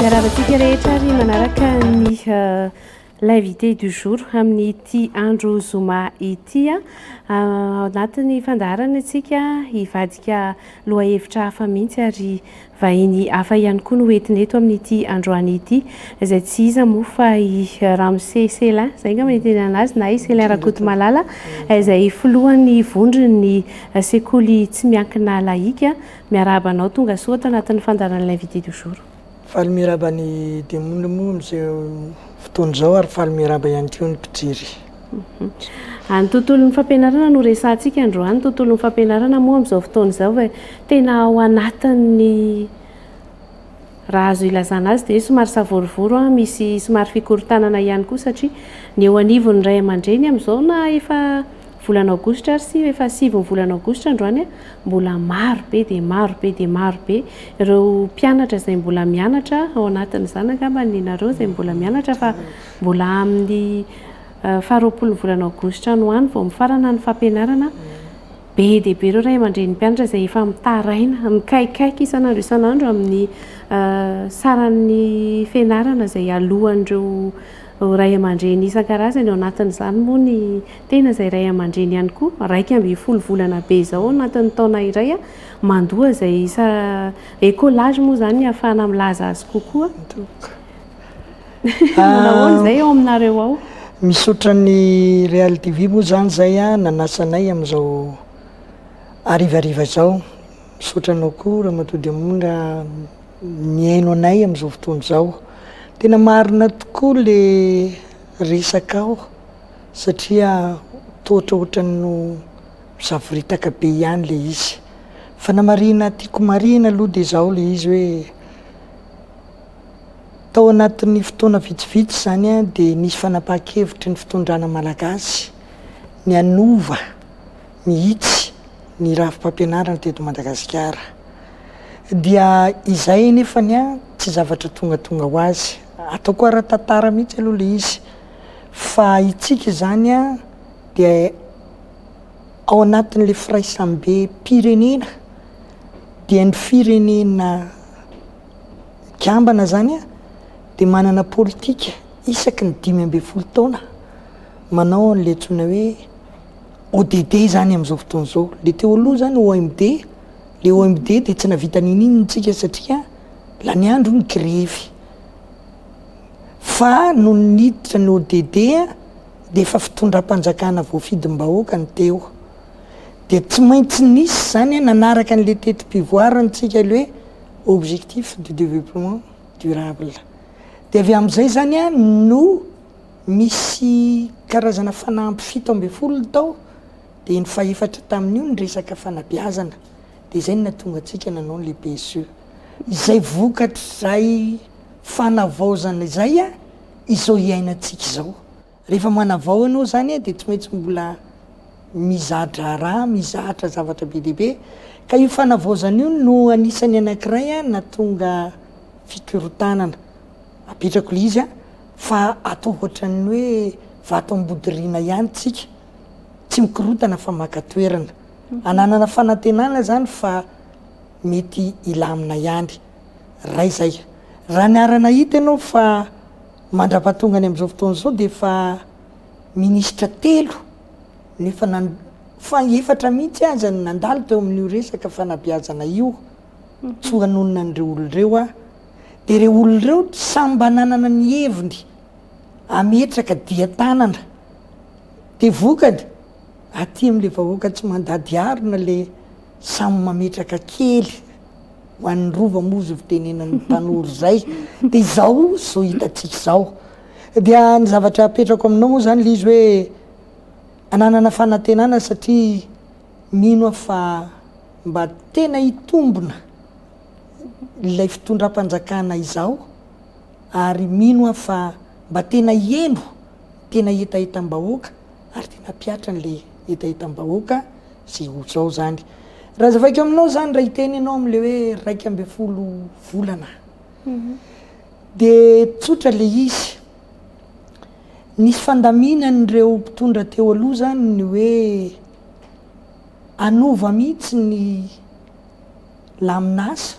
Miaravantsika rehetra ary manaraka ny euh, l'invité du jour amin'ny ity andro zoma ity a. Ah. Ah, anatin'ny fandaharana antsika hivadika lohahevitra hafa mihitsy ary Vahiny hafa ihany koa no hoentina eto amin'ity androany ity, izay tsy iza moa fa i Ramose Selin, izay angamba no itenenana azy, na i Selin Rakotomalala, izay filohan'ny vondron'ny sekoly tsy miankina lahika. Miarahaba anao, tonga soa ato anatin'ny fandaharan'ny L'Invité du jour. Faly miarahaba ny Demony moa amin'izao fotoana izao ary faly miarahaba ihany koa ny mpijery. Any tontolon'ny fampianarana no resahantsika androany, tontolon'ny fampianarana moa amin'izao fotoana izao ve tena ao anatin'ny raha azo ilazana azy dia somary savorovoro an, misy somary fikorontanana ihany koa satria ny eo anivon'ny ray aman-dreny amin'izao na efa volana aogositra ary sy efa sivy ny volana aogositra androany an, mbola maro be dia maro be dia maro be ireo mpianatra izay mbola mianatra ao anatin'izany angamba ny nareo izay mbola mianatra fa Mbola amin'ny faharoapolon'ny volana aogositra any ho any vao mifarana ny fampianarana. Be dia be ireo ray aman-drenin'ny mpianatra izay efa mitaraina, mikaikaika isan'andro isan'andro amin'ny saran'ny fianarana izay hialohan'ireo ray aman-dreny isan-karazany. Ao anatin'izany moa ny tena izay ray aman-dreny ihany koa. Iraika ambin'ny folo volana be izao ao anatin'ny taona iray mandoa izay isa, écolage moa izany no ahafahana milaza azy kokoa. Manahoana izay ao aminareo ao? Misaotra ny Real TV moa izany izay nanasa anay amin'izao harivariva izao. Misaotra anao koa Ramatoa Diamondra mihaino anay amin'izao fotoana izao. Tena marina tokoa ilay resakao satria toa ohatrohatran'ny misavoritaka be ihany ilay izy. Fanamarihana tiako marihina aloha dia izao ilay izy hoe. Tao anatin'ny fotoana vitsivitsy izany dia nisy fanapahan-kevitry ny fitondrana malagasy ny hanova mihitsy ny rafi-pampianarana teto Madagasikara. Dia izay anefany tsy zavatra tongatonga ho azy. Ataoko ara-tantara mihitsy aloha ilay izy fa itsika izany dia ao anatin'ilay firaisambem-pirenena dia ny firenena Kambana zany dia manana politika isaky ny dimy ambin'ny folo taona manao an'ilay antsoina hoe ODD zany amin'izao fotoana izao. Ilay teo aloha zany OMD, ilay OMD dia tsy nahavita n'inon'inona isika satria lany andro ny grevy. Fa nony niditra ny ODD dia efa fitondram-panjakana voafidim-bahoaka ny teo. Dia tsy maintsy nisy zany nanaraka an'ilay teti-pivoarantsika ilay hoe Objectifs du développement durable. Dia avy amin'izay izany no misy karazana fanamby fito ambin'ny folo tao, dia ny fahefatra tamin'io ny resaka fanabeazana, dia izay no nahatonga antsika nanao ilay PSE. Izay vokatr'izay fanavaozana izay izao iainantsika izao. Rehefa manavao ianao izany dia tsy maintsy mbola miza-draharaha, mizatra zavatra be dia be. Ka io fanavaozana io no anisan'ny anankiray nahatonga fikorontanana. Apetrako ilay izy fa atao ohatran'ny hoe vato ambodiriana ihany isika. Tsy mikorontana fa maka toerana. Ananana fanantenana izany fa mety hilamina ihany. Iray izay. Raha niara-nahita ianao fa. Mandra-pahatongany amin'izao fotoana izao dia efa minisitra telo no efa nan-, fa efatra mihitsy aza no nandalo teo amin'io resaka fanabeazana io, tsy ho hanonona an'ireo olona ireo aho. Dia ireo olona ireo samy mba nanana ny heviny hametraka dian-tanana. Dia vokany, Aty am le vahoaka tsy mandady arina le samy mametraka kely ho an'ny rova moa zo fitenenan'ny tanora zay de izao zo hitantsika izao dia ny zavatra apetrako aminao moa zany l'izy hoe ananana fanantenana satria mino aho fa mba tena hitombona ilay fitondram-panjakana izao ary mino aho fa mba tena heno tena hetahetam-bahoaka ary dia nampihatra an'ilay hetahetam-bahoaka izay ho zao izany. Raha azavaiko aminao izany, raha hiteny ianao amin'ilay hoe iraika ambin'ny folo volana, dia tsotra ilay izy. Nisy fandaminan'ireo mpitondra teo aloha izany ny hoe hanova mihitsy ny lamin'asa,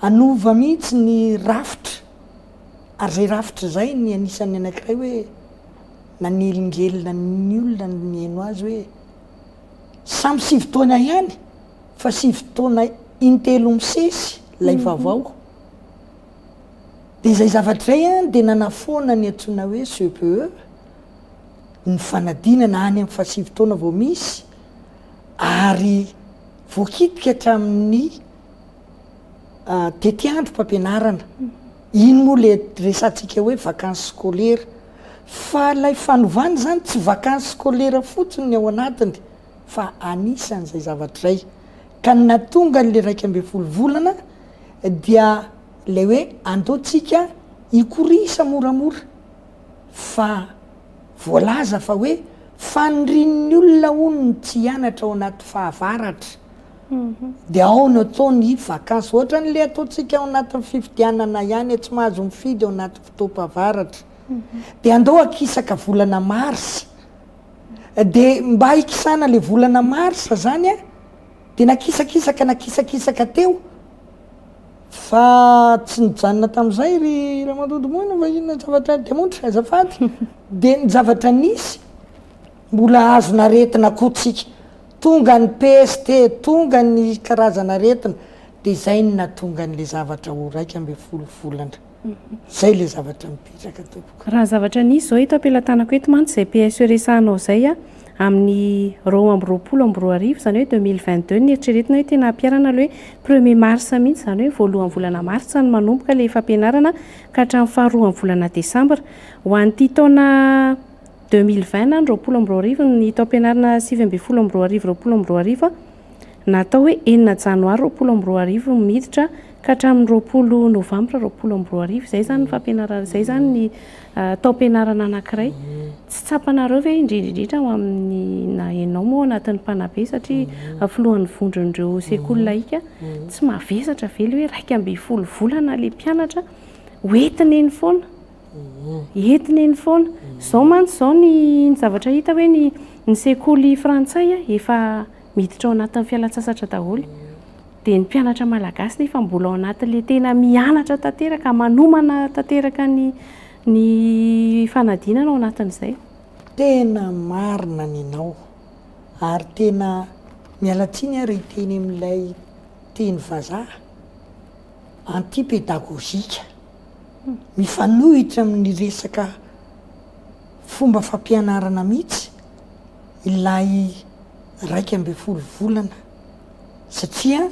hanova mihitsy ny rafitra, ary izay rafitra izay ny anisan'ny anankiray hoe, Nanelingelina ny olona ny nihaino azy hoe, Samy sivy taona ihany fa sivy taona intelo misesy ilay vaovao. Dia izay zavatra izay an, dia nanafoana ny antsoina hoe CPE, ny fanadinana any amin'ny fahasivy taona vao misy, ary voakitika hatramin'ny Tetiandro mpampianarana, iny moa le resatsika hoe vacances scolaires, fa ilay fanovana izany tsy vacances scolaires fotsiny ny ao anatiny fa anisan'izay zavatra izay, ka ny nahatonga an'ilay iraika ambin'ny folo volana dia ilay hoe andao tsika hikorisa moramora, fa voalaza fa hoe fanirian'ny olona hono ny tsy hianatra ao anaty fahavaratra, Dia ao no atao ny vakansy. Ohatran'ilay ataontsika ao anatin'ny fifidianana ihany, tsy mahazo mifidy ao anaty fotoam-pavaratra. Dia andao hakisaka volana marsa. Dia mba hikisana ilay volana marsa izany, dia nakisakisaka nakisakisaka teo, fa tsy nijanona tamin'izay ry ramatoa Domoina fa inona ny zavatra demontre? Azafady. Dia ny zavatra nisy. Mbola azon aretina koa tsika. Tonga ny peste, tonga ny karazana aretina dia zay no nahatonga an'le zavatra ho iraika ambin'ny folo volana. Zay le zavatra mipetraka tompoko. Raha ny zavatra nisy izao eto am-pelatanako eto mantsy izay PSE resahanao izay a, amin'ny roa amby roapolo amby roa arivo, izany hoe deux mille vingt deux, ny eritreretina hoe tena hampiharana ilay hoe premier mars mihitsy, izany hoe voalohan'ny volana martsa no manomboka ilay fampianarana ka hatramin'ny faharoan'ny volana desambra. Ho an'ity taona. Deux mille vingt na ny roapolo amby roa arivo Ny taom-pianarana sivy ambin'ny folo amby roa arivo roapolo amby roa arivo na atao hoe enina janoary roapolo amby roa arivo no miditra ka hatramin'ny roapolo novambra roapolo amby roa arivo. Izay izany ny fampianarana, izay izany ny taom-pianarana anankiray. Tsy tsapanareo ve indrindra indrindra ho amin'ny na ianao moa ao anatin'ny mpanabe satria filohan'ny vondron'ireo sekoly lahika, tsy mavesatra ve ilay hoe iraika ambin'ny folo volana ilay mpianatra hoentiny eny foana? Entina eny foana. Izao mantsy izao ny zavatra hita hoe ny ny sekoly frantsay efa miditra ao anatin'ny fialantsasatra daholo. Dia ny mpianatra malagasy nefa mbola ao anatin'ilay tena mianatra tanteraka, manomana tanteraka ny ny fanadinana ao anatin'izay. Tena marina ny anao. Ary tena miala tsiny ary hiteny amin'ilay teny vazaha, anti-pédagogique. mifanohitra amin'ny resaka fomba fampianarana mihitsy ilay iraika ambin'ny folo volana satria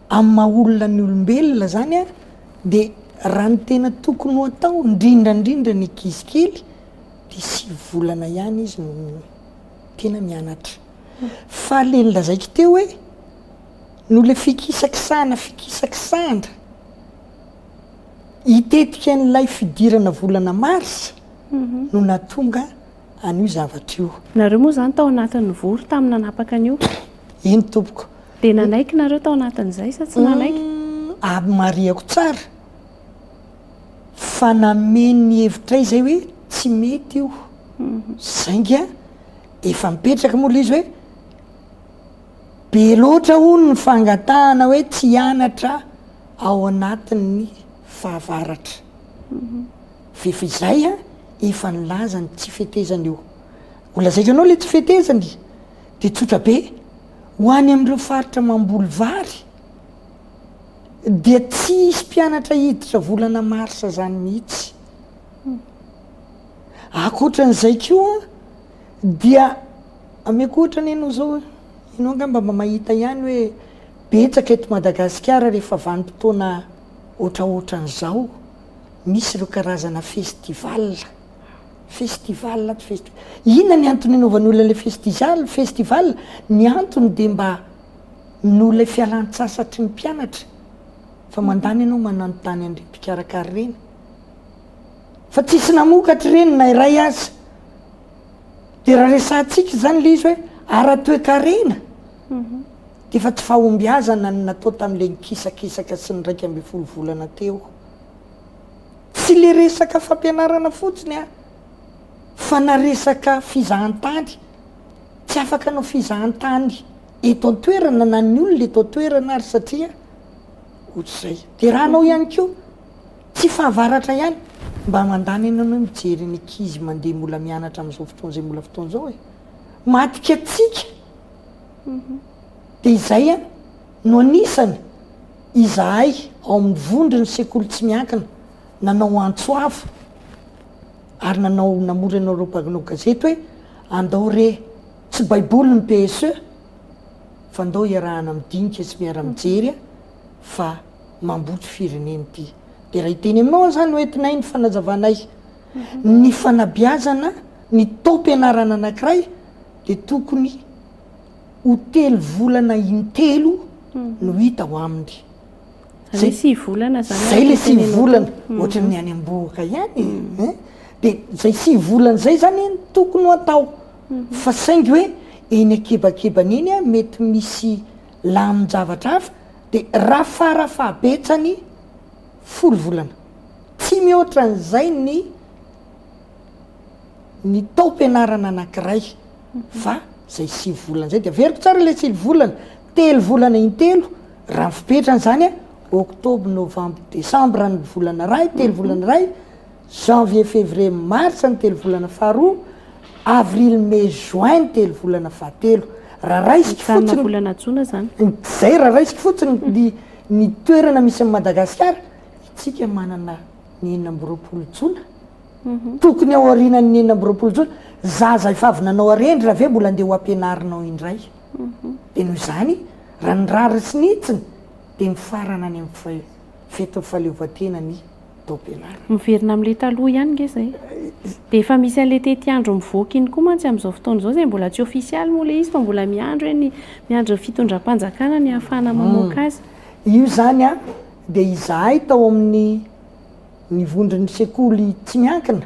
amin'ny maha olona ny olombelona zany a dia raha ny tena tokony ho atao indrindra indrindra ny ankizy kely dia sivy volana ihany izy no tena mianatra fa le nolazaiko teo hoe noho le fikisakisahana fikisakisahana Hitetika an'ilay fidirana volana marsa no nahatonga an'io zavatra io. Nareo moa izany tao anatin'ny vory tamin'ny nanapaka an'io? Eny tompoko. Dia nanaiky nareo tao anatin'izay sa tsy nanaiky? Ary marihako tsara fa nameno hevitray izay hoe tsy mety io. Sainga efa mipetraka moa ilay izy hoe be loatra hono ny fangatahana hoe tsy hianatra ao anatin'ny fahavaratra. Ve fa izay an, efa nilaza ny tsy fetezany eo. Ho lazaiko anao ilay tsy fetezany dia tsotra be, ho any amin'ireo faritra mamboly vary dia tsy hisy mpianatra hiditra volana marsa izany mihitsy. Ankoatran'izay koa dia ameko ohatra anie ianao izao, ianao angamba mba mahita ihany hoe Betsaka eto Madagasikara rehefa vanim-potoana ohatraohatran'izao misy ireo karazana festival, festival ato festi. Inona ny antony anaovan'ny olona ilay festizal, festival? Ny antony dia mba noho ilay fialan-tsasatry ny mpianatra fa mandany ianao mananontany an'ireny mpikarakara ireny fa tsisy namokatra ireny na iray aza. Dia raha resahantsika izany ilay izy hoe ara-toekarena. Efa tsy fahombiazana ny natao tamin'ilay nikisakisaka sy ny iraika ambin'ny folo volana teo. Tsy ilay resaka fampianarana fotsiny an, fa na resaka fizahantany. Tsy afaka hanao fizahantany eto an-toerana na ny olona eto an-toerana ary satria ohatr'izay. Dia raha hanao ihany koa, tsy fahavaratra ihany, mba mandany ianao hoe mijery ny ankizy mandeha mbola mianatra amin'izao fotoana izay mbola fotoana izao e. Maty katsika. Dia izay no anisany izahay ao amin'ny vondron'ny sekoly tsy miankina nanao antso avo ary nanao namory anareo mpanao gazety hoe andao re tsy baiboly ny PSE fa ndao iarahana midinika sy miara mijery fa mamboty firenena ity. Dia raha hiteny aminao aho izany no entinay ny fanazavanay ny fanabeazana ny taom-pianarana anankiray dia tokony ho telo volana intelo no hita ao aminy. Zay le sivy volana zany no tenenao. Zay le sivy volana, ohatran'ny any am-bohoka ihany e! Dia zay sivy volana zay zany no tokony ho atao, fa saingy hoe eny an-kibakibany eny an, mety misy lamin-javatra hafa, dia rafarafa-betsany folo volana, tsy mihoatra an'izay ny. ny taom-pianarana anankiray fa izay sivy volana izay dia averiko tsara ilay sivy volana, telo volana intelo raha ny fipetrany izany an, octobre, novembre, decembre ny volana iray, telo volana iray, janvier, fevrier, mars ny telo volana faharoa, avril, mai, juin ny telo volana fahatelo. Raha raisiko fotsiny mijanona volana jona izany. Izay raha raisiko fotsiny ny toerana misy an'i Madagasikara, isika manana. ny enina amby roapolo jona? tokony ao aorianan'ny enina amby roapolo jona, zaza efa avy nanao harendry raha ve mbola andeha ho ampianarinao indray? dia noho izany raha ny rariny sy ny hitsiny dia mifarana any amin'ny fetin'ny fahaleovantena ny taom-pianarana. Miverina amin'ilay taloha ihany ange izay. Dia efa misy an'ilay tetiandro mivoaka iny koa mantsy amin'izao fotoana izao izay mbola tsy ofisialy moa ilay izy fa mbola miandry hoe ny miandry ny fitondram-panjakana ny hahafahana mamoaka azy. Io izany an! dia izahay tao amin'ny ny vondron'ny sekoly tsy miankina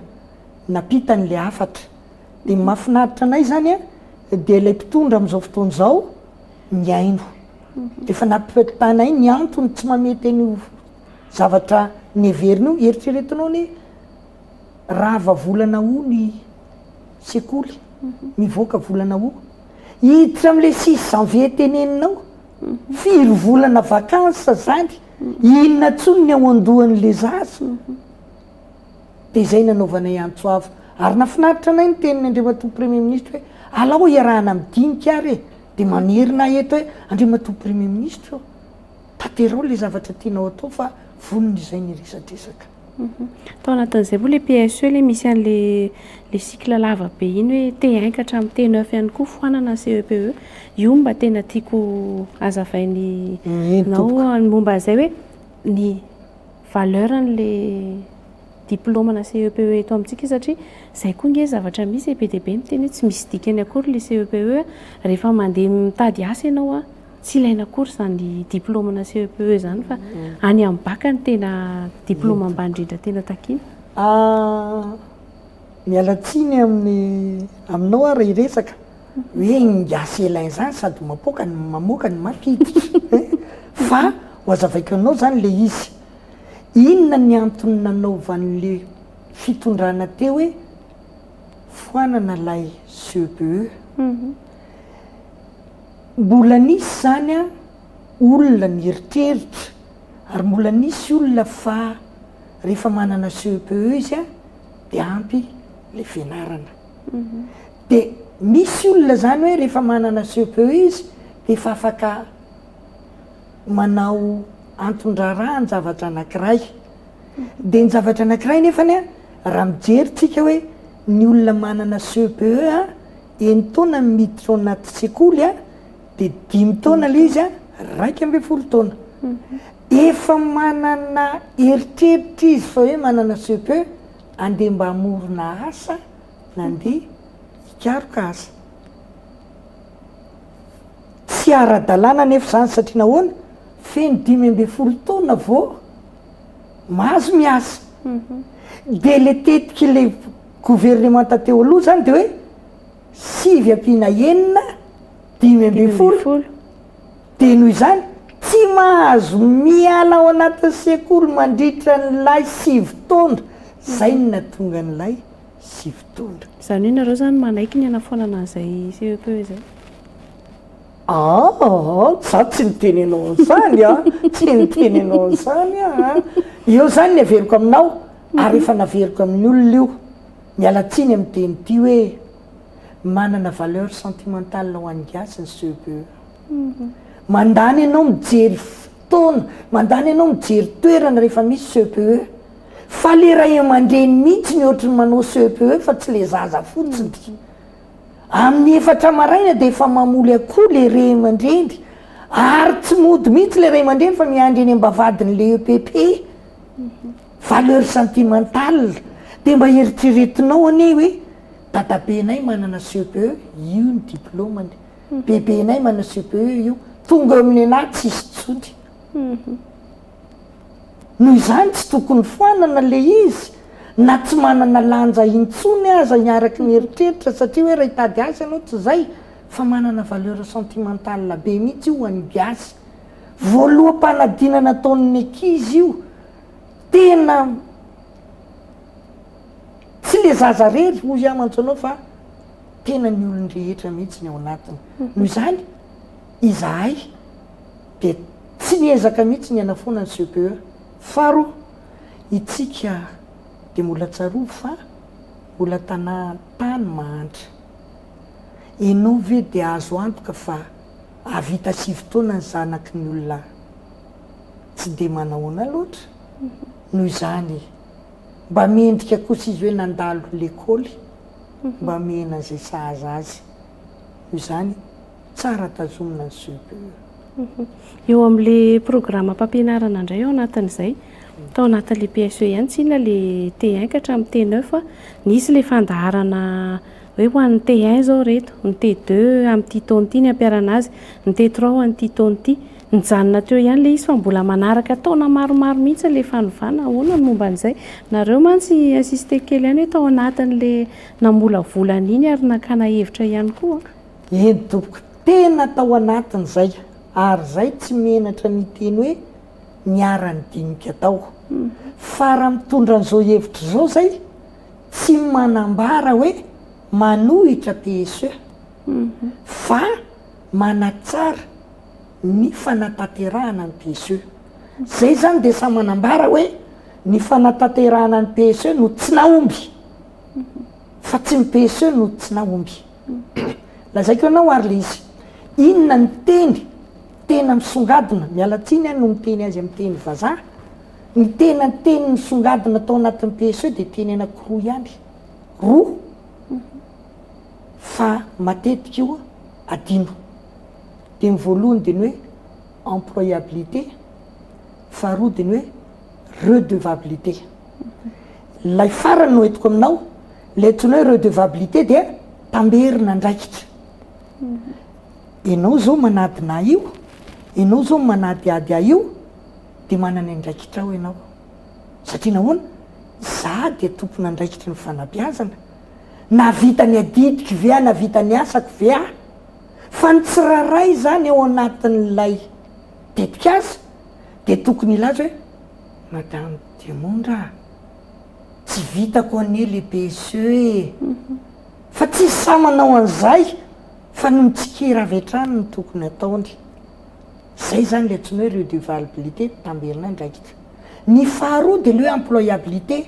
nampita an'ilay hafatra. Dia ny mahafinaritra anay izany dia ilay mpitondra amin'izao fotoana izao mihaino. Efa nampitanay ny antony tsy mamety an'io zavatra neverina io, eritreretinao anie rava volana aoa ny sekoly, mivoaka volana aoa, hiditra amin'ilay six janvier teneninao. Firy volana vacances zany? Inona tsony ny ao andohan le zaza? Dia izay nanaovanay antso avo. Ary nafinaritra anay ny tenin Andriamatoa Premier Ministra hoe alao hiarahana midinika ary e! Dia mamerina ahy eto hoe Andriamatoa Premier Ministra ô! Tanterao le zavatra tianao atao fa vonona izay ny resadresaka. Tao anatin'izay moa ilay PSE ilay misy an'ilay ilay cycle lava be iny hoe T1 ka hatramin'ny T9 ihany koa foanana ny CEPE. Io no mba tena tiako hazavain'ny nao ny momba an'izay hoe ny valeur an'ilay diplaomanà CEPE eto amintsika satria izay koa ange zavatra misy e, be dia be ny miteny hoe tsy misy dikany akory ilay CEPE rehefa mandeha mitady asa ianao a. Tsy ilaina akory izany diplôme na CEPE izany fa any amin'ny bac no tena diplôme ambany indrindra tena takiana. Miala tsiny amin'ny aminao aho raha hiresaka hoe ny gasy elaine izany sady mapoaka no mamoaka no mampiditra fa ho azavaiko anao izany ilay izy, inona ny antony nanaovan'ilay fitondrana teo hoe foanana ilay CEPE? Mbola nisy izany an, olona nieritreritra ary mbola nisy olona fa rehefa manana CEPE izy an, dia ampy ilay fianarana. Dia misy olona izany hoe rehefa manana CEPE izy dia efa afaka manao anton-draharaha ny zavatra anankiray. Dia ny zavatra anankiray nefany an, raha mijery tsika hoe ny olona manana CEPE an, Eny taona ny miditra ao anaty sekoly a, de dimy taona le izy a, raika ambin'ny folo taona. Efa manana eritreritra izy fa hoe manana CEPE, andeha mba hamorona asa na andeha hikaroka asa. Tsy ara-dalàna anefa izany satria nahoana, feno dimy ambin'ny folo taona vao mahazo miasa. Dia le tetik'ilay. Governemanta teo aloha izany dia hoe sivy ampiana enina dimy ambin'ny folo, dia noho izany tsy mahazo miala ao anatin'ny sekoly mandritra an'ilay sivy taona, izay no nahatonga an'ilay sivy taona. Izany hoe ianareo izany manaiky ny hanafoanana an'izay CEPE izay? Aaa, izaho tsy niteny anao an'izany an, tsy niteny anao an'izany aho an, eo izany ny heveriko aminao, Ary efa naveriko amin'ny olona io, miala tsiny amin'ny teny ity hoe manana valeur sentimentale ho an'ny gasy ny CEPE. Mandany ianao mijery fotoana, mandany ianao mijery toerana rehefa misy CEPE. Fa ilay ray aman-dreny mihitsy ny ohatry ny manao CEPE fa tsy ilay zaza fotsiny. Amin'ny efatra maraina dia efa mamoly akoho ilay ray aman-dreny ary tsy mody mihitsy ilay ray aman-dreny fa miandry eny am-bavahadin'ilay EPP. Valeur sentimentale, dia mba eritreretinao anie hoe dadabenay manana CPE, io ny diplaomany, bebenay manana CPE, io, tonga eo amin'ny anah tsisy intsony. Noho izany tsy tokony foanana ilay izy na tsy manana lanja intsony aza ny araky ny eritreritra satria hoe raha hitady asa ianao tsy izay fa manana valeur sentimentale be mihitsy io ho an'ny gasy. Voaloham-panadinana ataon'ny ankizy io tena tsy le zaza rery hoy aho mantsy anao fa tena ny olon-drehetra mihitsy ny ao anatiny noho izany izahay dia tsy niezaka mihitsy ny hanafoana ny CPE faharoa itsika dia mbola tsarovy fa mbola tanà tany mahantra ianao ve dia azo antoka fa hahavita sivy taona ny zanaky ny olona Tsy dia manahoana loatra, noho izany e! Mba mendrika kosa izy hoe nandalo lekôly mba mihena an'izay sahaza azy. Noho izany, tsara tazomina ny CPE. Eo amin'ilay programam-pampianarana indray ao anatin'izay, tao anatin'ilay PSE ihany, tsinona ilay T1 ka hatramin'ny T9, nisy ilay fandaharana Hoe ho an'ny T1 izao ireto, ny T2 amin'ity taona ity ny hampiharana azy, ny T3 ho an'ity taona ity. Nijanona teo ihany ilay izy fa mbola manaraka taona maromaro mihitsy ilay fanovana. Ahoana ny momba an'izay? Nareo mantsy insisté kely ihany hoe tao anatin'ilay namolavola an'iny ary nakana hevitra ihany koa. Eny tompoko, tena tao anatin'izay ary izay tsy menatra ny hiteny hoe niara-nidinika tao. Fa raha mitondra an'izao hevitra izao izay tsy manambara hoe manohitra PSE fa manatsara ny fanatanterahana ny PSE. Izay izany dia samy manambara hoe ny fanatanterahana ny PSE no tsy nahomby fa tsy ny PSE no tsy nahomby. Lazaiko anao ary le izy, inona ny teny tena misongadina, miala tsiny aho no miteny azy amin'ny teny vazaha, Ny tena teny nisongadina tao anatin'ny PSE dia teny anankiroa ihany, roa fa matetika io adino. Dia ny voalohany dia ny hoe employabilité, faharoa dia ny hoe redevabilité. Ilay farany no entiko aminao, ilay antsoina hoe redevabilité dia tamberina andraikitra. Ianao izao manadina ahy io, ianao izao manadihady ahy io, dia manana andraikitra ao ianao. Satria nahoana? Izaho dia tompon'andraikitry ny fanabeazana. Nahavita ny adidiko ve aho? Nahavita ny asako ve aho? Fa ny tsirairay izany ao anatin'ilay tetikasa dia tokony hilaza hoe, Madame Demondra a! Tsy vitako anie le PSE e! Fa tsy izy samy manao an'izay fa ny mitsikera avy hatrany no tokony ataony. Zay zany le atsoina hoe redevabilite tamberina andraikitra. Ny faharoa dia le hoe employabilite.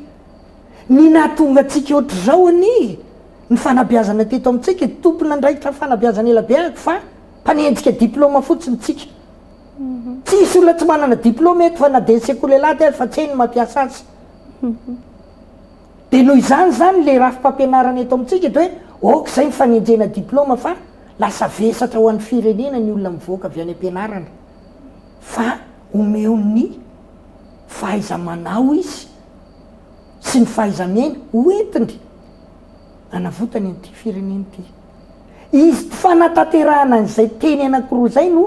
Ny nahatonga antsika ohatr'izao anie ny fanabeazana teto amintsika, tompon'andraikitra fanabeazana ela be aky fa mpanenjika diploma fotsiny tsika. Tsy hisy olona tsy manana diploma eto fa na dia ny sekoly alahady aza fa tsy hay ny mampiasa azy. Dia noho izany izany ilay rafi-pampianarana eto amintsika dia hoe ok izay ny fanenjehana diploma fa lasa vesatra ho an'ny firenena ny olona mivoaka avy any ampianarana fa omeo ny fahaiza-manao izy sy ny fahaiza-miaina hoentiny hanavotany an'ity firenena ity. Izy tsy fanatanterahana an'izay teny anankiroa izay no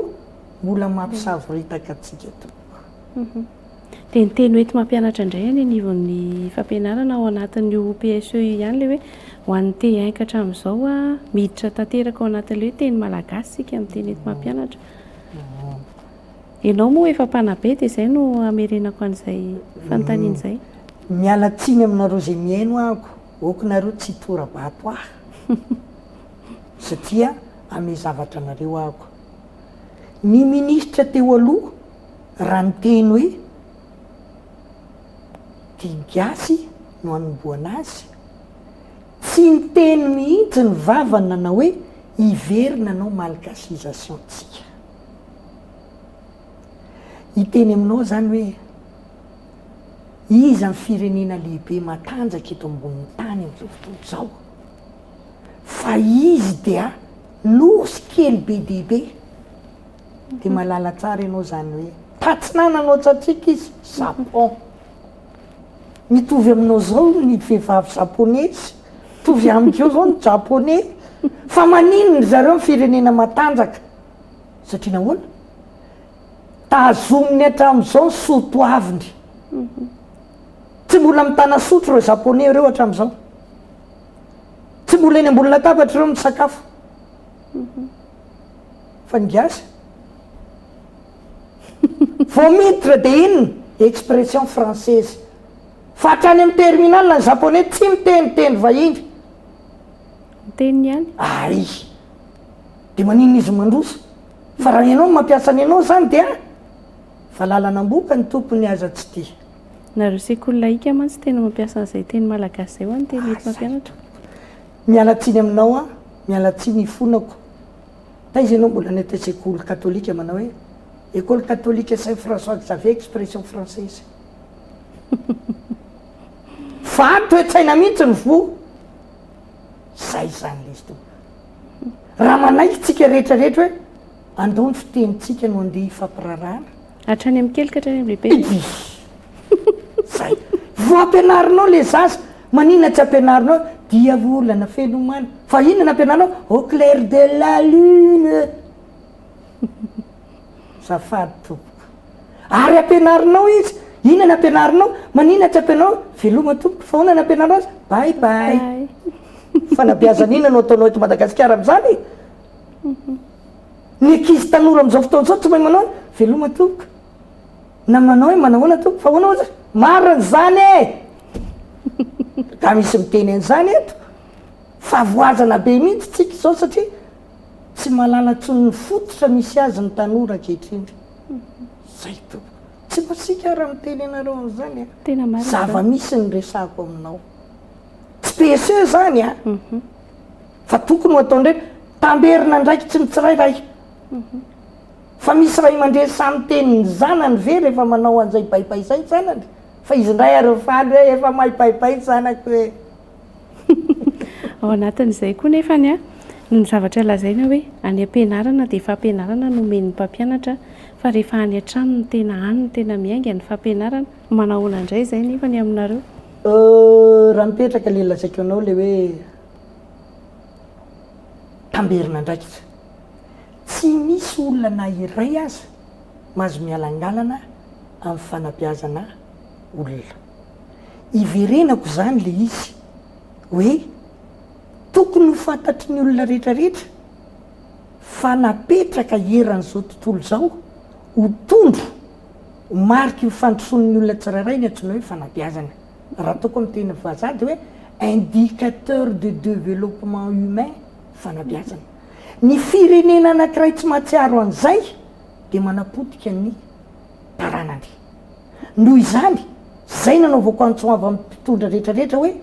mbola mampisavoritaka antsika tompoko. Dia ny teny hoenti mampianatra indray any anivon'ny fampianarana ao anatin'ny io PSE io ihany ilay hoe ho an'ny te hainka hatramin'izao a, miditra tanteraka ao anatin'ilay hoe teny malagasy isika amin'ny teny hoenti mampianatra. Ianao moa efa mpanabe dia izay no hamerenako an'izay fanontaniana izay. Miala tsiny aminareo izay mihaino aako, ok nareo tsy hitora-bato ahy satria hame zavatra anareo aako. Ny ministra teo aloha. Raha miteny hoe didigasy no anombohana azy, tsy niteny mihitsy ny vavany nanao hoe hiverina anao malgasisation tsika. Hiteny aminao izany hoe iza ny firenena lehibe matanjaka eto ambonin'ny tany amin'izao fotoana izao fa izy dia nosy kely be dia be. Dia malala tsara ianao izany hoe. Tatsinana no antsatsaiko izy, Japon. Mitovy aminao izao ny vehivavy Japonesy, mitovy amiko eo izao ny Japoney. Fa maninona ry zareo ny firenena matanjaka? Satria nahoana? Tazominy hatramin'izao ny soa toaviny. Tsy mbola mitana sotro ireo Japoney ireo hatramin'izao. Tsy mbola eny ambony latabatra ireo misakafo. fa ny gasy vao miditra dia inona? expression française fa hatrany amin'ny terminal ny japonais tsy miteny teny vahiny ny teniny ihany ary dia maninona izy no mandroso fa raha ianao no mampiasa ny anao izany dia valalan'amboka ny tompony aza tsy tia nareo sekoly lahika mantsy tena mampiasa an'izay teny malagasy izay ho'a ny teny eto mampianatra Miala tsiny aminao aho, miala tsiny ifonako. Taiza ianao mbola any ataiza école catholique manao hoe école catholique Saint François Xavier expression française. Fa toe-tsaina mihintsy ny voa. Zay izany lesy. Raha manaiky tsika rehetra rehetra hoe andao ny fitenintsika no andeha hifampirarahana. Hatrany amin'ny kely ka hatrany amin'ny lehibe. Idiot! Zay! Vao ampianarinao le zaza, maninona tsy ampianarinao dia volana felomana? Fa inona no ampianarinao? Au clair de la lune! Azafady tompoko. Ary ampianarinao izy, inona no ampianarinao? Maninona tsy ampianarinao? Veloma tompoko, fa ahoana no ampianarinao azy? Bye bye! Fanabeazana inona no ataonao eto Madagasikara amin'izany e? Ny ankizy tanora amin'izao fotoana izao tsy mahay manao hoe veloma tompoko na manao hoe manahoana tompoko fa ahoana ozy? Marina izany e! Nga misy miteny an'izany eto? Fa voazana be mihitsy tsika izao satria tsy mahalala intsony ny fototra misy azy ny tanora ankehitriny. Zay tompoko. Tsy masiaka aho raha miteny anareo an'izany a! Tena marina izany. Zava-misy ny resahako aminao. Tsy PSE izany a! Fa tokony ho ataondreo tamberina andraikitry ny tsirairay. Fa misy ray aman-dreny sahy miteny ny zanany ve rehefa manao an'izay baibai izay ny zanany? Fa izy indray ary mifaly hoe efa mahay baibai ny zanako e! Ao anatin'izay koa nefa ny ny zavatra lazaina hoe any am-pianarana dia fampianarana no omen'ny mpampianatra fa rehefa any an-trano no tena any no tena miainga ny fampianarana. Manahoana indray izay nefa ny aminareo? Raha mipetraka ilay lazaiko anao ilay hoe. tamberin'andraikitra. Tsy misy olona na iray aza mahazo mialangalana amin'ny fanabeazana olona. Iverenako izany ilay izy hoe tokony ho fantatry ny olona rehetrarehetra fa napetraka eran'izao tontolo izao ho tondro, ho mariky ny fandrosoan'ny olona tsirairay ny antsoina hoe fanabeazana. Raha ataoko amin'ny teny vazaha dia hoe indicateur de développement humain fanabeazana. Ny firenena anankiray tsy mahatsiaro an'izay dia manapotika ny taranany. Noho izany, izay nanaovako antso avo amin'ny mpitondra rehetra rehetra hoe,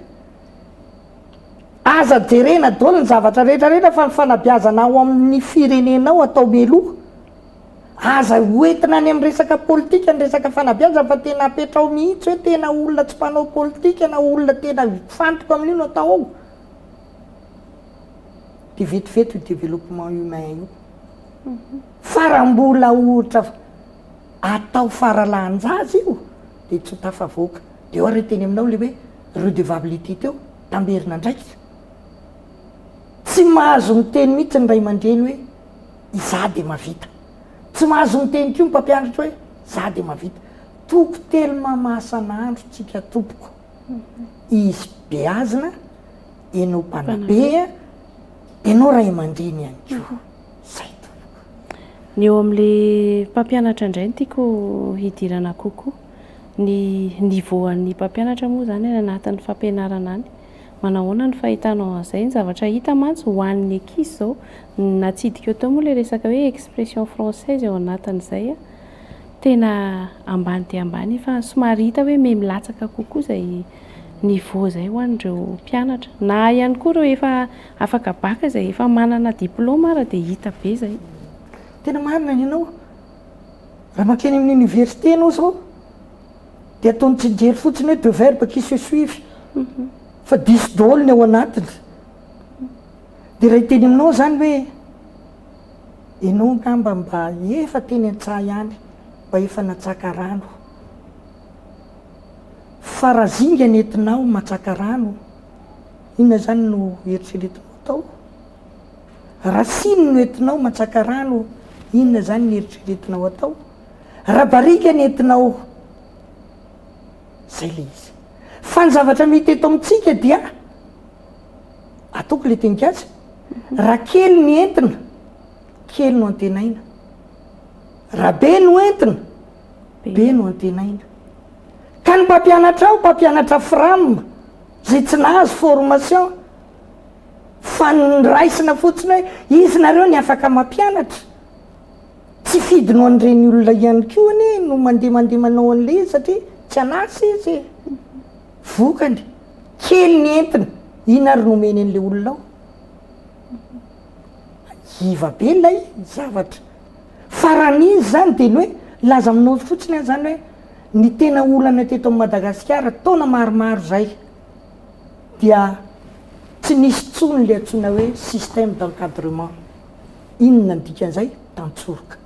aza jerena daholo ny zavatra rehetra rehetra fa ny fanabeazana ao amin'ny firenenao atao mialoha. Aza ho entina any amin'ny resaka politika ny resaka fanabeazana fa tena apetraho mihitsy hoe tena olona tsy mpanao politika na olona tena mifantoka amin'io no atao ao. Dia vetivety io développement humain io. Fa raha mbola ohatra atao faralahan-jaza io dia tsy ho tafavoaka. Dia eo ary ny teny aminao ilay hoe redevabilité teo, tamberin'andraikitra. Tsy mahazo miteny mihitsy ny ray aman-dreny hoe Izaho dia mahavita. Tsy mahazo miteny koa ny mpampianatra hoe, Izaho dia mahavita. Toko telo mamahasan'andro tsika tompoko. Izy beazina, ianao mpanabe, ianao ray aman-dreny ihany koa. Izay tompoko. Ny eo amin'ilay mpampianatra indray no tiako hidirana kokoa. Ny niveau-n'ny mpampianatra moa izany any anatin'ny fampianarana any. Manahoana ny fahitanao an'izay? Ny zavatra hita mantsy ho an'ny Ekizy izao, ny natsidika eo teo moa ilay resaka hoe expression française eo anatin'izay an, tena ambany dia ambany e, fa somary hita hoe mihamilatsaka kokoa izay niveau izay ho an'ireo mpianatra. Na ihany koa ireo efa afaka baka izay efa manana diplaoma ara dia hita be izay. Tena marina ny anao. Raha mankeny amin'ny oniversite ianao izao, Dia ataony tsingery fotsiny hoe deux verbes qui se suivent fa diso daholo ny ao anatiny. Dia raha hiteny aminao izany hoe ianao angamba mba efa teny an-tsaha any, mba efa natsaka rano. Fa raha zinga ny entinao matsaka rano, inona izany no eritreretinao atao? Raha siny no entinao matsaka rano, inona izany no eritreretinao atao? Raha barika ny entinao, izay ilay izy. Fa ny zavatra mety eto amintsika dia, ataoko ilay tenikasa, raha kely ny entina, kely no antenaina. Raha be no entina, be no antenaina. Ka ny mpampianatra ao, mpampianatra fram, izay tsy nahazo formation, fa ny raisina fotsiny hoe izy nareo ny afaka mampianatra. Tsy fidiny ho an'ireny olona ihany koa anie no mandeha mandeha manao an'ilay izy satria tsy an'asa izy e! Vokany, kely ny entiny, inona ary no omeny an'ilay olona ao? Iva be ilay zavatra. Fa raha ny izy izany dia ny hoe laza aminao fotsiny aho izany hoe ny tena olana teto Madagasikara taona maromaro izay dia tsy nisy intsony ilay antsoina hoe système d'encadrement. Inona ny dikan'izay? Tantsoroka.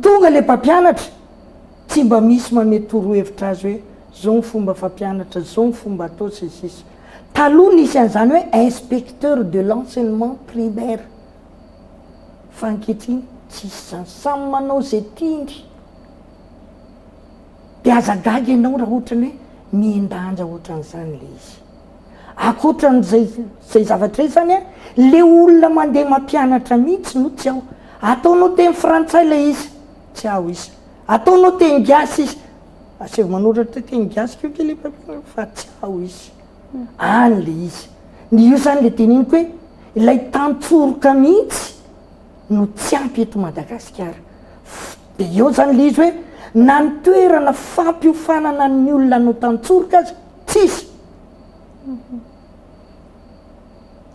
Tonga ilay mpampianatra, tsy mba misy manome torohevitra azy hoe izao ny fomba fampianatra, izao ny fomba atao, sy ny sisa. Taloha nisy an'izany hoe inspecteur de l'enseignement primaire, fa ankehitriny tsisy izany. Samy manao izay tiany. Dia aza gaga ianao raha ohatra ny hoe mihen-danja ohatran'izany ilay izy. Akoatran'izay izay zavatra izany an, le olona mandeha mampianatra mihitsy no tsy ao. Ataonao teny frantsay ilay izy, tsy ao izy. Ataonao teny gasy izy, aseho manoratra teny gasy ko kely mpampino fa tsy ao izy. Any le izy. Ny io izany le teneniko hoe ilay tantsoroka mihitsy no tsy ampy eto Madagasikara. Dia eo izany le izy hoe na ny toerana fampiofanana ny olona hanao tantsoroka aza, tsisy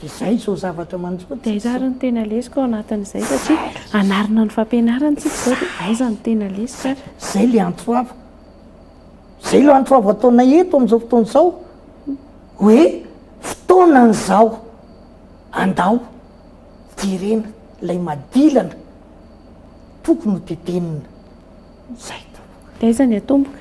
de zay zao zavatra manjo de aiza ary ny tena lesoka ao anatin'izay satria anarina ny fampianarana tsika zao de aiza ny tena lesoka ary zay le antso avo zay le antso avo ataona eto am'izao fotoana izao hoe fotoanan' zao andao jerena lay madilana tokony ho tetenina zay de aiza ny atomboka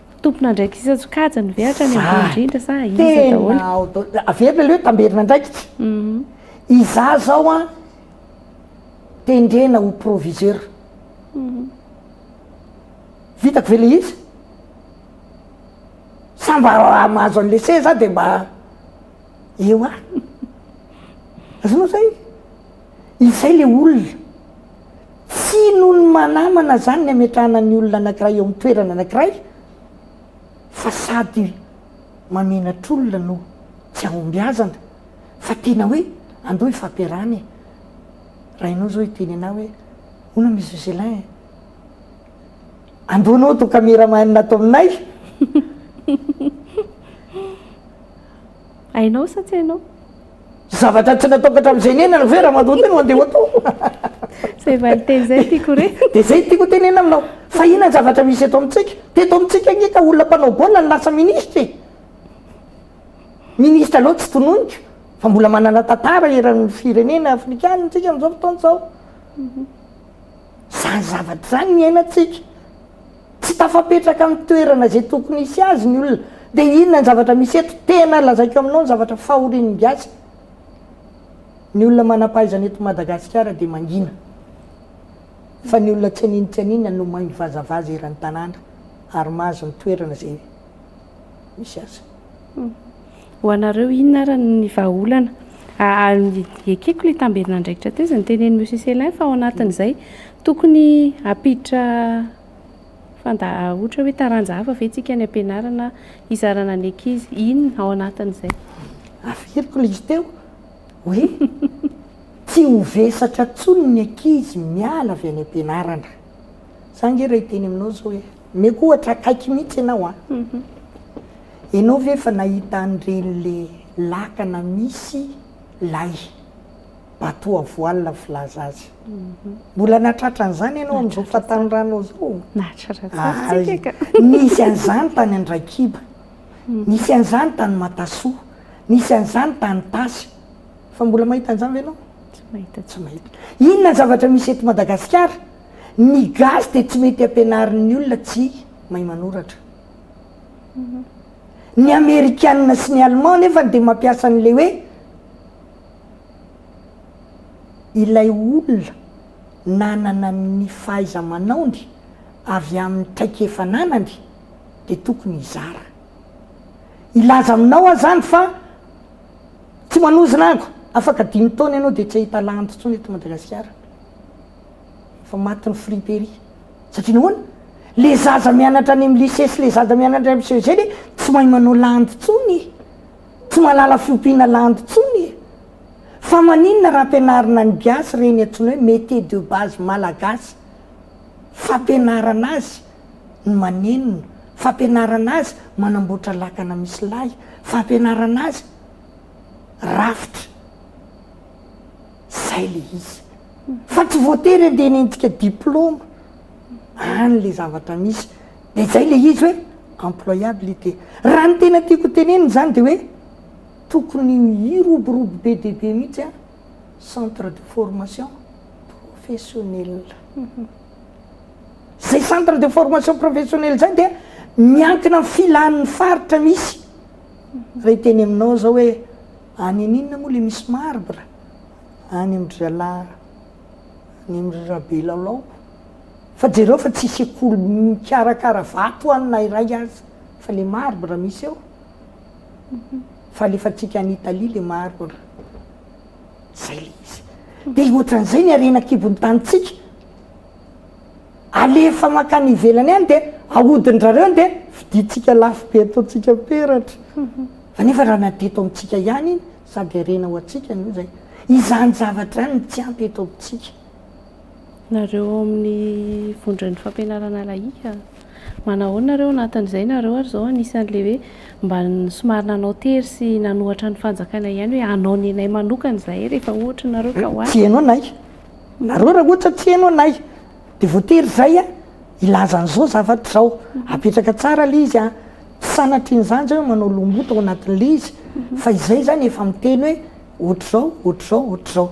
Tompon'andraikitra isan-tsokajiny ve hatrany ambony indrindra sa iza daholo? Tena ao daholo, averina aloha hoe tamberin'andraikitra. Izaho izao an, tendrena ho proviseur. Vitako ve ilay izy? Sa mba raha mahazo an'ilay seza aho dia mba eo ihany? Azonao izay? Izay le olona. Tsy noho ny manamana zany ny ametrahana ny olona anakiray eo amin'ny toerana anakiray fa sady mamenatr'olona no tsy ahombiazana fa tena hoe andao hifampiarahana e! Rainao zao hiteny anah hoe hoana Monsieur Celin e! Andao anao atao cameraman ato aminay! Hainao sa tsy hainao? Zavatra tsy natokatra amin'izay niainana ve ramatoa ity no andeha ho atao? Izay valinteny izay no tiako re. Dia izay no tiako ho tenenina aminao fa inona ny zavatra misy eto amintsika? Teto amintsika ange ka olona mpanao baolina no lasa minisitra e! Minisitra loatra tsy tononiko fa mbola manana tantara eran'ny firenena afrikana isika amin'izao fotoana izao. Izany zavatra izany no iainantsika. Tsy tafapetraka amin'ny toerana izay tokony hisy azy ny olona. Dia inona ny zavatra misy eto? Tena lazaiko aminao ny zavatra fahorian'ny gasy, ny olona manam-pahaizana eto Madagasikara dia mangina, fa ny olona tsy anino tsy anino no maivazavaza eran'ny tanàna ary mahazo ny toerana izay. misy azy. Ho anareo inona ary ny vahaolana? Ekeko ilay tamberin'andraikitra teo izay nitenen'i Monsieur Célin fa ao anatin'izay tokony hampiditra fanda- ohatra hoe taranja hafa ve isika any am-pianarana hizarana ny ankizy? Inona ao anatin'izay? Averiko ilay izy teo hoe tsy ho vesatra intsony ny ankizy miala avy any am-pianarana. Izaho ange raha hiteny aminao izao hoe Omeko ohatra akaiky mihitsy ianao an! Ianao ve efa nahita an'ireny le lakana misy lay bateau à voile filaza azy? Mbola nahatratra an'izany ianao amin'izao fahatanorana izao? Nahatratra tsara tsika ka! Nisy an'izany tany Andraikiba, nisy an'izany tany Matasoa, nisy an'izany tany Tasy. Fa mbola mahita an'izany ve ianao? Tsy mahita. Inona ny zavatra misy eto Madagasikara Ny gasy dia tsy mety ampianarin'ny olona tsy mahay manoratra. Ny amerikana sy ny allemand nefany dia mampiasa an'ilay hoe ilay olona nanana ny fahaiza-manaony avy amin'ny traikefa ananany dia tokony hizara. Hilaza aminao aho izany fa tsy manozona ango, afaka dimy taona ianao dia tsy hahita lahanty intsony eto Madagasikara. Efa maty ny friperie. Satria nahoana? Le zaza mianatra any amin'ny lycée sy le zaza mianatra any amin'ny CEG anie tsy mahay manao landy intsony e! Tsy mahalala fiompiana landy intsony e! Fa maninona raha ampianarina ny gasy ireny antsoina hoe métier de base malagasy? Fampianarana azy ny manenona, fampianarana azy manamboatra lakana misy lay, fampianarana azy rafitra. zay le izy fa tsy voatery hoe andehanentika diploma any le zavatra misy de zay le izy hoe employabilité raha ny tena tiako hotenenina zany de hoe tokony hiroborobo be dia be mihitsy a centre de formation professionnel zay centre de formation professionnel zay dia miankina amin'ny filan'ny faritra misy raha hiteny aminao zao hoe Any aninona moa le misy marbre? Any am dry zalahy any am ry Rabelalao fa jereo fa tsy sekoly mikarakara vato any na iray aza fa le marbre misy eo fa alefantsika any Italie le marbre zay le izy de ohatran'izay ny harena kibon'ny tanintsika alefa mankany ivelany any de ahodin-drareo de vidintsika lafo be ataontsika peratra. Anefa raha na teto amintsika ihany iny, sady harena ho antsika anie izay. Izany zavatra izany no tsy ampy eto amintsika. Nareo ao amin'ny vondron'ny fampianarana lahika, manao ahoana nareo ao anatin'izay? Nareo ary izao anisan'ilay hoe mba somary nanao tery sy nanohatra ny fanjakana ihany hoe hanao ny anay manokana izahay rehefa ohatra nareo ka ho avy. Tsy heno anay. Nareo raha ohatra tsy heno anay. Dia voatery izay hilaza an'izao zavatra izao. Apetraka tsara ilay izy an. Tsy sanatria an'izany izay hoe manao lomota ao anatin'ilay izy, fa izay izany efa miteny hoe ohatr'izao, ohatr'izao, ohatr'izao.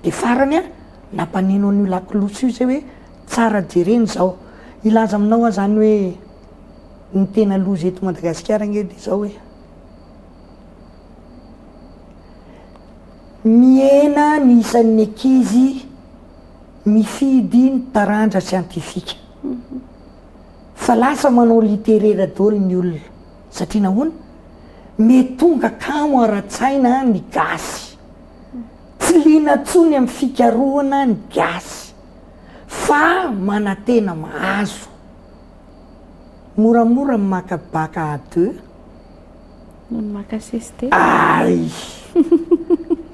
Dia farany an, nampaneno an'io lakolosy io izay hoe tsara jerena izao. Hilaza aminao aho izany hoe ny tena loza eto Madagasikara ange dia izao hoe, mihena ny isan'ny ankizy, mifidy ny taranja siantifika fa lasa manao literera daholo ny olona satria nahoana? mety tonga kamo ara-tsaina ny gasy tsy liana intsony amin'ny fikarohana ny gasy fa manantena mahazo moramora ny maka bac à deux noho ny maka CST ay!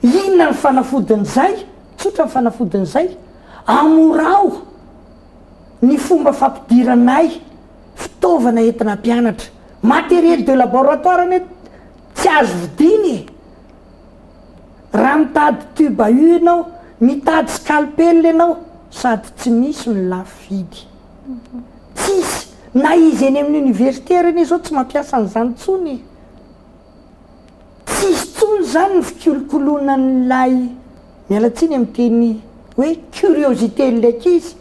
inona ny fanafodin'izay? Tsotra ny fanafodin'izay, amorao ny fomba fampidiranay fitaovana entina hampianatra. Matériel de laboratoire anie tsy azo vidiana e! Raha mitady tube à u ianao, mitady scalpel ianao, sady tsy misy no lafo vidy. Tsisy, na izy eny amin'ny universitaire anie izao tsy mampiasa an'izany intsony e! Tsisy tsony izany ny fikolokoloana an'ilay, miala tsiny amin'ny teny hoe curiosité an'ilay ankizy,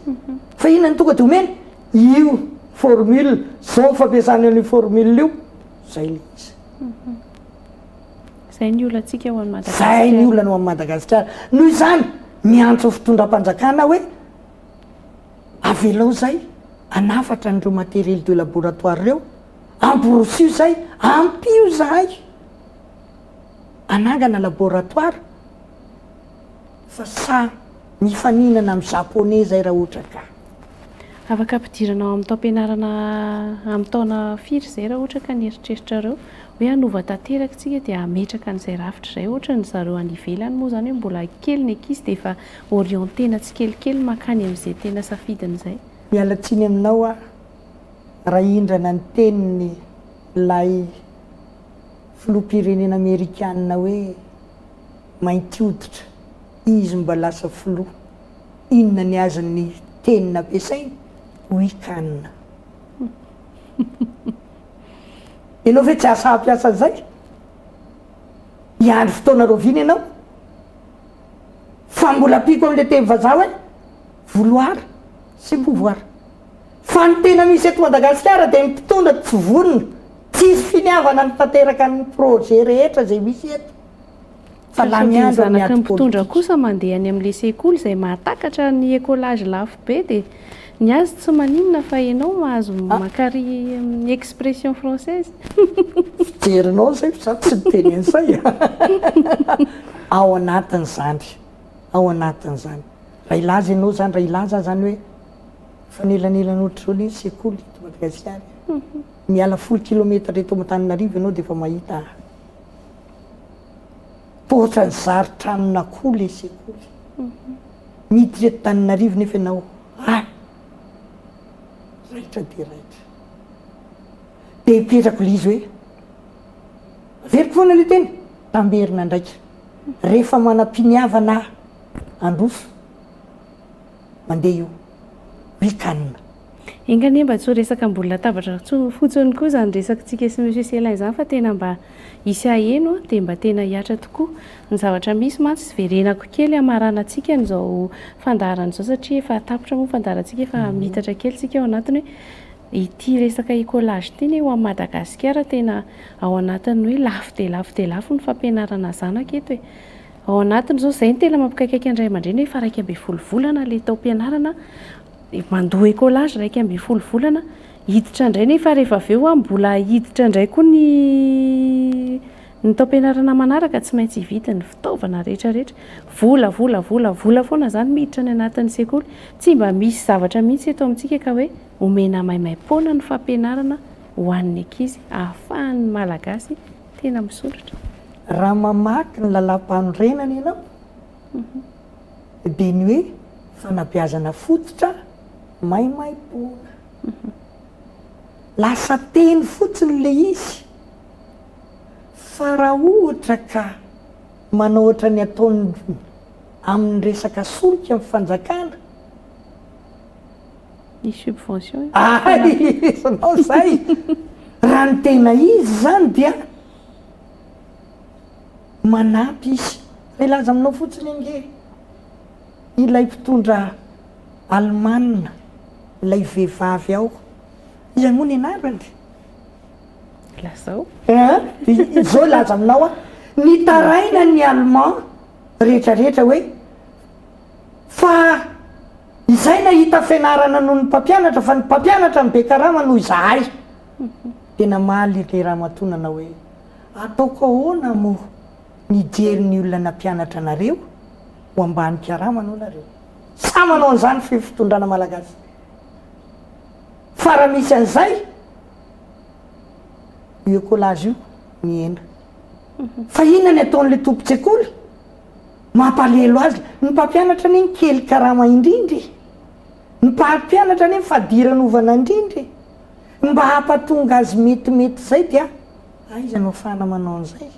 fa inona no tonga dia omena? Io formule, izao ny fampiasana an'io formule io, izay ilay izy. Izay ny olantsika ao Madagasikara. Izay ny olana ao amin'i Madagasikara. Noho izany, miantso ny fitondram-panjakana aho hoe, avelao izay hanafatra an'ireo matériels de laboratoire ireo, Amborosio zay, ampio zahay anangana laboratoire fa sa mifaninana am japonais zay ra ohatra ka. Afaka ampidirana ao amin'ny taom-pianarana amin'ny taona firy izay raha ohatra ka ny eritreritrareo hoe hanova tanteraka isika dia hametraka an'izay rafitra izay ohatra ny zareo any ivelany moa izany hoe mbola kely ny ankizy dia efa orienter-na tsikelikely mankany amin'izay tena safidiny izay. Miala tsiny aminao aho Rahindrana ny teniny ilay filoham-pirenena amerikana hoe mainty hoditra izy mba lasa filoha. Inona ny azon'ny teny nampiasainy? Oui can. Ianao ve tsy asa hampiasa an'izay? Hiandry fotoana rahoviana ianao? Fa mbola ampiako amin'ilay teny vazaha hoe vouloir sy pouvoir. Fa ny tena misy eto Madagasikara dia ny mpitondra tsy vonona, tsisy finiavana ny tanteraka ny projet rehetra izay misy eto fa lany andro amin'ny ady politika. Ny zanaky ny mpitondra kosa mandeha any amin'ilay sekoly izay mahatakatra ny ecolage lafo be dia ny azy tsy maninona fa ianao mahazo makary amin'ny expression française. Fijerinao izay fa izaho tsy miteny an'izay e! Ao anatin'izany, ao anatin'izany, raha hilaza ianao izany, raha hilaza aho izany hoe, Fa nelanelana ohatr'izao le sekoly eto Madagasikara e! Miala folo kilometatra eto Antananarivo ianao dia efa mahita poitra ny zary tranon'akoho le sekoly. Miditra eto Antananarivo nefa ianao any raitra dia raitra. Dia hipetrako le izy hoe averiko foana le teny tamberina andraika rehefa manam-piniavana handroso. mandeha io ry can. Enga anie mba tsy ho resaka ambony latabatra fotsiny koa izany resakitsika sy Monsieur Celin izany fa tena mba hisy haheno an, dia mba tena hihatra tokoa ny zavatra misy mantsy verenako kely hamaranantsika an'izao fandaharana izao satria efa tapitra moa ny fandaharantsika efa miitatra kely tsika ao anatiny hoe ity resaka ecolage ity anie ho an'i Madagasikara tena ao anatin'ny hoe lafo dia lafo dia lafo ny fampianarana zanaka eto e! Ao anatin'izao, izay no tena mampikaikaika ny ray aman-dreny efa iraika ambin'ny folo volana ilay taom-pianarana, mandoa écolage iraika ambin'ny folo volana, hiditra indray nefa rehefa avy eo mbola hiditra indray koa ny ny taom-pianarana manaraka, tsy maintsy hividy ny fitaovana rehetra rehetra. Vola, vola, vola, vola foana izany miditra any anatin'ny sekoly. Tsy mba misy zavatra mihitsy eto amintsika ka hoe omena maimaim-poana ny fampianarana ho an'ny ankizy ahafahan'ny Malagasy Tena misoratra. Raha mamaky ny lalàmpanorenana ianao dia ny hoe fanabeazana fototra maimaimpoana. Lasa teny fotsiny ilay izy fa raha ohatra ka manao ohatran'ny ataony amin'ny resaka solika ny fanjakana, Ny subvention io. Hay! Ianao izay! Raha ny tena izy izany dia manampy izy. Milaza aminao fotsiny ange ilay mpitondra Alemana, ilay vehivavy ao. Iza moa ny anarany? Lazao. An! Izao hilaza aminao aho, nitaraina ny Allemand rehetra rehetra hoe. Fa izay nahita fianarana noho ny mpampianatra fa ny mpampianatra no be karama noho izahay. Dia namaly ilay ramatoa nanao hoe, Ataoko ahoana moa mijery ny olona nampianatra anareo ho ambany karama noho nareo? Sa manao an'izany fy fitondrana malagasy? Fa raha misy an'izay, io ecolage io mihena. Fa inona ny ataon'ilay tompon-tsekoly? Mampalelo azy ny mpampianatra anie ny kely karama indrindra e! Ny mpampianatra anie ny fadiran ovana indrindra e! Ny mba hampatonga azy metimety zay dia aiza no afahana manao an'izay?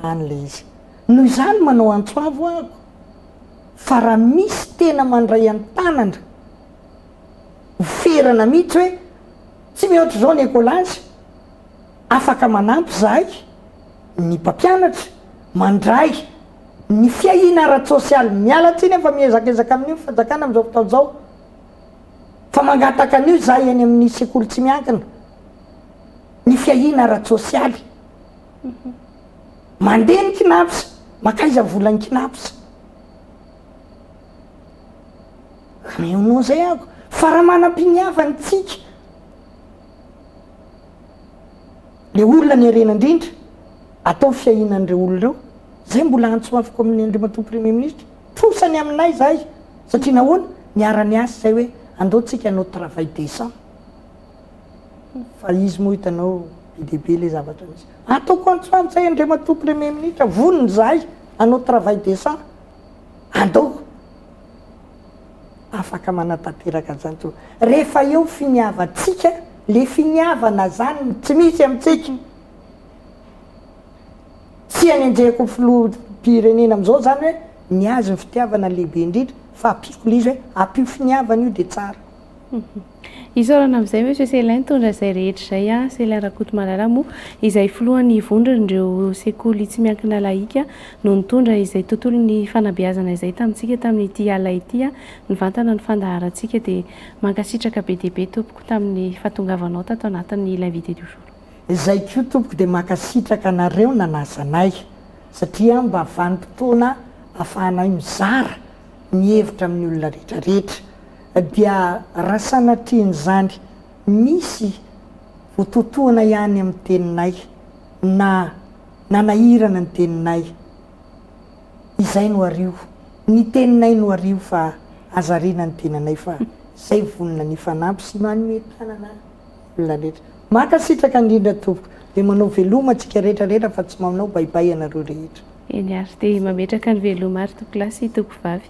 Any le izy! Noho izany manao antso avo aho fa raha misy tena mandray an-tanana ho ferana mihitsy hoe tsy mihoatra izao ny ecolazy, afaka manampy zahay ny mpampianatra, Mandray ny fiahiana ara-tsosialy. Miala tsiny aho fa miezak'ezaka amin'io ny fanjakana amin'izao fotoana izao fa mangataka an'io izaho eny amin'ny sekoly tsy miankina, ny fiahiana ara-tsosialy. Mandeha ny Cnaps, mankaiza ny volan'ny Cnaps? Ameonao izay amiko fa raha manam-piniavana isika, Ilay olona nerena indrindra, atao fiahiana an'ireo olona ireo. Izay mbola antso afoko amin'i Andriamatoa Premier Ministra, trosa ny aminay izay, satria nahoana? Niara-niasa izay hoe andao tsika hanao travail décent. Fa izy moa hitanao be dia be ilay zavatra misy. Ataoko antso aminy izay Andriamatoa Premier Ministra, vonona izahay hanao travail décent. Andao. afaka manatanteraka an'izany intsony. Rehefa eo finiavantsika, le finiavana zany tsy misy amintsika. Tsy anenjehako ny filoham-pirenena amin'izao zany hoe ny azy ny fitiavana lehibe indrindra fa ampiako le izy hoe ampio finiavana io de tsara. Isaorana amin'izay Monsieur Celin nitondra izay rehetra izay an, Celin Rakotomalala moa izay filohan'ny vondron'ireo sekoly tsy miankina lahika no nitondra izay tontolon'ny fanabeazana izay tamintsika tamin'ity alina ity an, nivantana ny fandaharantsika dia mankasitraka be dia be tompoko tamin'ny fahatongavanao tato anatin'ny l'invité du jour. Izay koa tompoko dia mankasitraka anareo nanasa anay satria mba vanim-potoana afahanay mizara ny hevitra amin'ny olona rehetra rehetra dia raha sanatrian'izany misy ho totohina ihany amin'ny teninay na nanahirana ny teninay, izay no ario, ny teninay no ario fa aza ariana ny tenanay fa izay vonona ny hifanampy sy manome tanana olona rehetra. Mankasitraka indrindra tompoko, dia manao veloma antsika rehetra rehetra fa tsy manao baibay ianareo rehetra. Eny ary, dia mametraka ny veloma ary tompokolahy sy tompokovavy.